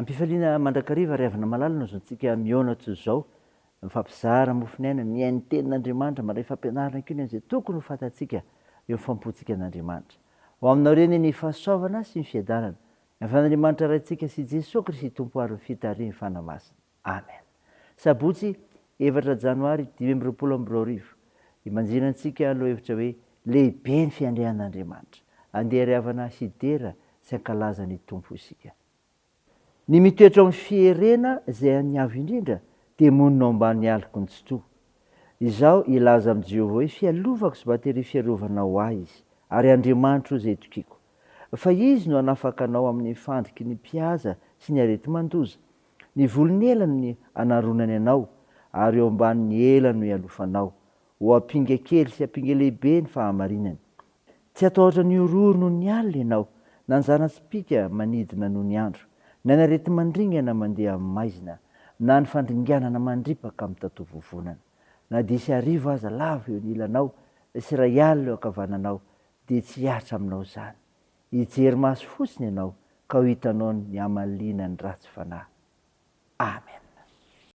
Am-pifaliana mandrakariva ry havana malala no azontsika mihaona toy izao, mifampizara mofon' aina, mihaino ny Tenin' Andriamanitra, mandray fampianarana koa ny an'izay tokony ho fantatsika eo amin'ny faham-pontsika an' Andriamanitra. Ho aminao ireny ny fahasoavana sy ny fiadanana, avy an' Andriamanitra Raintsika sy Jesoa Kristy Tompo ary ny fitarihiny Fanahy Masina. Amen. Sabotsy, efatra Janoary dimy amby roapolo amby roa arivo. Ibanjino antsika lohahevitra hoe Lehibe ny Fiandrian' Andriamanitra. Andeha ry havana hidera sy hankalaza ny Tompo isika. Ny mitoetra ao amin'ny fierena izay an'ny Avo Indrindra dia monina ao ambany aloky ny Tsitoha. Izaho hilaza amin'i Jehovah hoe fialovako sy bateria fiarovana ho ahy izy, ary Andriamanitro izay itokiako. Fa izy no hanafaka anao amin'ny fandriky ny mpihaza sy ny areti-mandoza. Ny volon'elany no hanaronany anao, ary eo ambanin'ny ela no hialofanao. Ho ampinga kely sy ampinga lehibe ny fahamarinany. Tsy hatahotra ny horohoro noho ny alina ianao, na ny zana-tsipìka manidina noho ny andro, na ny areti-mandringana mandeha amin'ny maizina, na ny fandringanana mandripaka amin'ny tatovovonana. Na dia hisy hariva aza lavo eo ny ilanao sy iray alina eo ankavananao, dia tsy hihatra aminao izany. Hijery maso fotsiny ianao, ka ho hitanao ny hamaliana ny ratsy fanahy. Amena.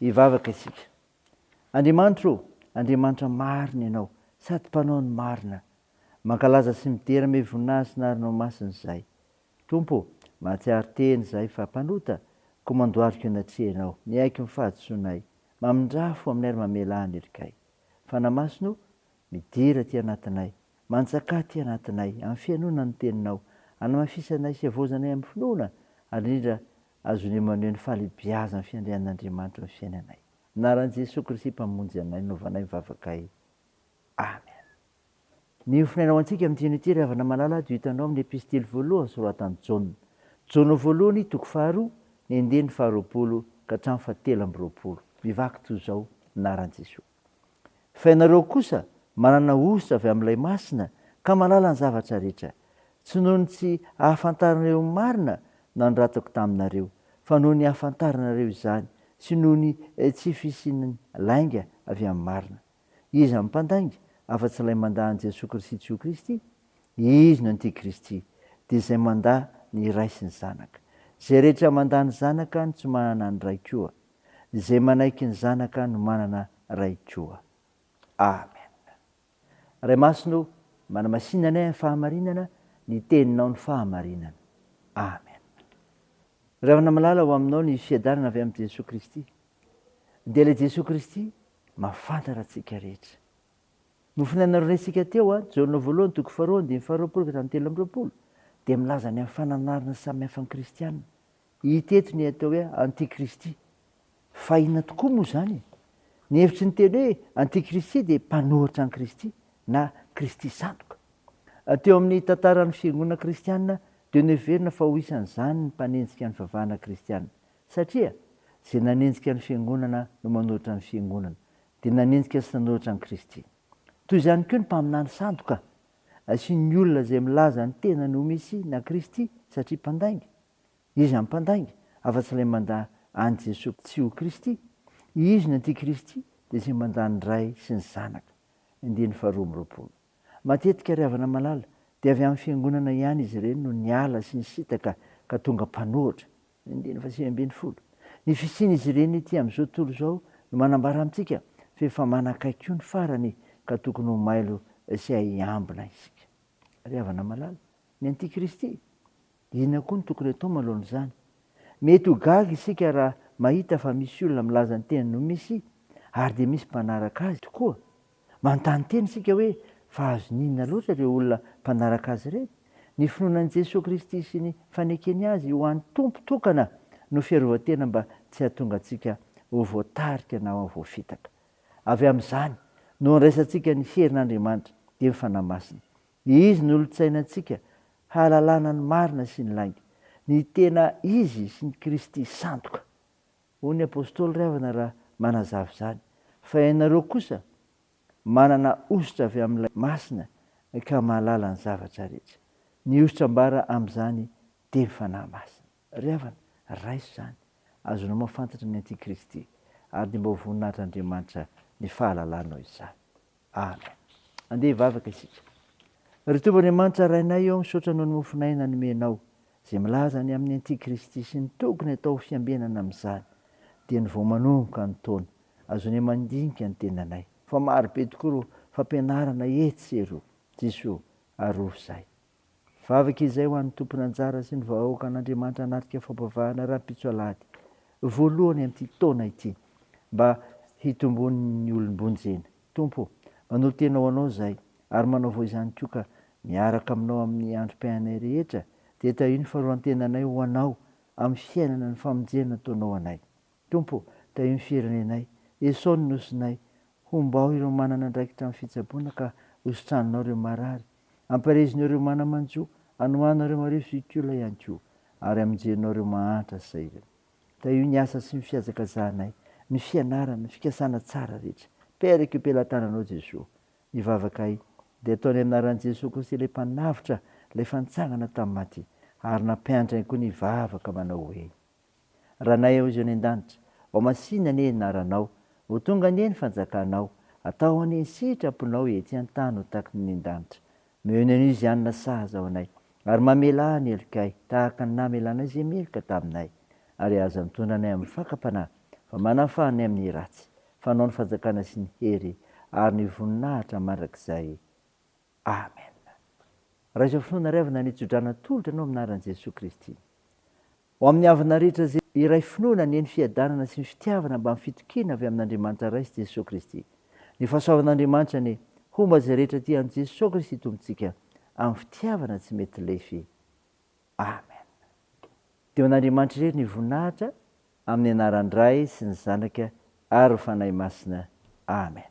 Hivavaka isika. Andriamanitra ô, Andriamanitra marina Ianao, sady Mpanao ny marina. Mankalaza sy midera mey voninahitsy ny arinao masina izahay. Tompo ô, mahatsiaro tena izahay fa mpanota, koa mandoariko anatrehanao, miaiky ny fahadisoanay, mamindrafo aminay ary mamelà ny helikay. Fanahy Masina ô, midera aty anatinay, mantsakà aty anatinay, amin'ny fihainoana ny Teninao, hanamafisanay sy havaozanay amin'ny finoana, ary indrindra Azon'i Emmanuel fahalebiazana ny fiandrian'Andriamanitra eo amin'ny fiainanay. Anaran'i Jesoa Kristy Mpamonjy anay no novanay ny vavakay. Amen. Ny hofonaina ho antsika amin'ny dieny ity ry havana malala dia ho hitanao amin'ny Epistily voalohany soratan'i Jaona. Jaona voalohany, toko faharoa, ny andininy faharoapolo ka hatramin'ny fahatelo amby roapolo. Mivaky toy izao, Anaran'i Jesoa. Fa ianareo kosa manana hosotra avy amin'ilay Masina ka mahalala ny zavatra rehetra, tsy noho ny tsy ahafantaranareo ny marina nanoratako taminareo, fa noho ny ahafantaranareo izany, sy noho ny tsy fisian'ny lainga avy amin'ny marina. Iza no mpandainga, afa-tsy ilay mandà an'i Jesoa Kristy tsy ho Kristy? Izy no Antikristy, dia izay mandà ny Ray sy ny Zanaka. Izay rehetra mandà ny Zanaka no tsy manana ny Ray koa. Izay manaiky ny Zanaka no manana Ray koa. Amen. Ray Masina o, manamasina anay amin'ny fahamarinana, ny Teninao no fahamarinana. Amen. Ravina malala ho aminao ny fiadanana avy amin'i Jesoa Kristy. Dia ilay Jesoa Kristy mafantatra antsika rehetra. Nofonay naronaintsika teo a, Jaona voalohany toko faharoa andininy faharoapolo ka hatramin'ny telo amby roapolo, dia milaza ny amin'ny fananarana samihafa ny kristiana. Hita eto ny atao hoe antikristy. Fa inona tokoa moa izany e? Ny hevitry ny teny hoe antikristy dia mpanohitra an'i Kristy na Kristy sandoka. Teo amin'ny tantaran'ny fiangonana kristiana dia noheverina fa ho isan'izany ny mpanenjika ny fivavahana kristiana. Satria izay nanenjika ny fiangonana no manohitra ny fiangonana, dia nanenjika sy nanohitra an'i Kristy. Toy izany koa ny mpaminany sandoka. Asian'ny olona izay milaza ny tenany ho Mesia na Kristy satria mpandainga. Izy ampandainga, afa-tsy ilay mandà an'i Jesoa tsy ho Kristy. Izy ny antikristy dia izay mandà ny Ray sy ny Zanaka. Andininy faharoa amby roapolo. Matetika ry havana malala dia avy amin'ny fiangonana ihany izy ireny no niala sy nisintaka ka tonga mpanohitra. Andininy fahasivy ambin'ny folo. Ny fisian'izy ireny ety amin'izao tontolo izao no manambara amintsika fa efa manakaiky koa ny farany ka tokony ho mailo sy hahay hiambina isika. Ry havana malala, ny antikristy. Inona koa no tokony atao manoloana izany? Mety ho gaga isika raha mahita fa misy olona milaza ny tenany ho Mesia ary dia misy mpanaraka azy tokoa. Manontany tena isika hoe, Fa azon'inona loatra ireo olona mpanaraka azy ireny? Ny finoana an'i Jesoa Kristy sy ny fanekeny azy ho an'ny Tompo tokana no fiarovan-tena mba tsy hahatonga antsika ho voatarika na voafitaka. Avy amin'izany no andraisantsika ny herin'Andriamanitra, dia ny Fanahy Masina. Ny izy no olon-tsainantsika hahalalana ny marina sy ny lainga, ny tena izy sy ny Kristy sandoka. Hoy ny apostoly Riavana raha manazava izany, Fa ianareo kosa manana hosotra avy amin'ilay Masina ka mahalala ny zavatra rehetra. Ny hosotra ambara amin'izany dia ny Fanahy Masina. Ry havana, raiso izany, azonao mahafantatra ny Antikristy, ary dia mba ho voninahitr'Andriamanitra ny fahalalanao izany. Amen. Andeha hivavaka isika. Ry Tompo Andriamanitra Rainay ô, misaotra noho ny mofonay nanomenao, izay milaza ny amin'ny Antikristy sy ny tokony atao ho fiambenana amin'izany, dieny vao manomboka ny taona, azonay mandinika ny tenanay, fa maro be tokoa ireo fampianarana etsy sy eroa. Jesoa, arovy izahay. Vavaka izay ho an'ny tompon'anjara sy ny vahoakan'Andriamanitra hanatrika fampavahana rahampitso alahady voalohany amin'ity taona ity mba hitomboan'ny olom-bonjena. Tompo ô, manolo-tena ho Anao izahay ary manaovao izany koa ka miaraka aminao amin'ny androm-piainanay rehetra dia tahio ny fanoloran-tenanay ho Anao amin'ny fiainana ny famonjena nataonao anay. Tompo, tahio ny firenenay. Esao ny nosinay. Hombao ireo manana andraikitra amin'ny fitsaboana ka hositraninao ireo marary. Ampaherezinao ireo mana-manjo, anohanao ireo marivo sy iotiolona ihany koa, ary amonjenao ireo mahantra sy sahirana. Tahio ny asa sy ny fihazakazahanay, ny fianarana, ny fikasana tsara rehetra. Peraka io pelatananao Jesoa. Ny vavakay dia atao ny anaran'i Jesoa Kristy ilay Mpanavotra, ilay efa nitsangana tamin'ny maty. Ary nampianatra ihany koa ny hivavaka manao hoe. Ranay ao izao any an-danitra, ho masìna anie ny naranao, ho tonga anie ny fanjakanao, atao anie ny sitraponao ety an-tany ho takin' ny an-danitra. Miheno an'io izay any nasahaza ho anay, ary mamelà ny helokay tahaka ny namelanay izay meloka taminay. Ary aza mitondra anay amin'ny fakam-panahy, fa manafaha anay amin'ny ratsy, fa anao ny fanjakana sy ny hery ary ny voninahitra mandrakizay. Amen. Raha izao finoana iray avy nanitso-drano natolotra anao amin'ny anaran'i Jesoa Kristy. Ho amin'ny havana rehetra izay iray finoana anie ny fiadanana sy ny fitiavana mba ny fitokiana avy amin'Andriamanitra Ray sy Jesoa Kristy. Ny fahasoavan'Andriamanitra anie homba izay rehetra tia an'i Jesoa Kristy Tompontsika amin'ny fitiavana tsy mety lefy. Amen. Dia ho an'Andriamanitra irery ny voninahitra amin'ny anaran-dRay sy ny Zanaka ary ny Fanahy Masina. Amen.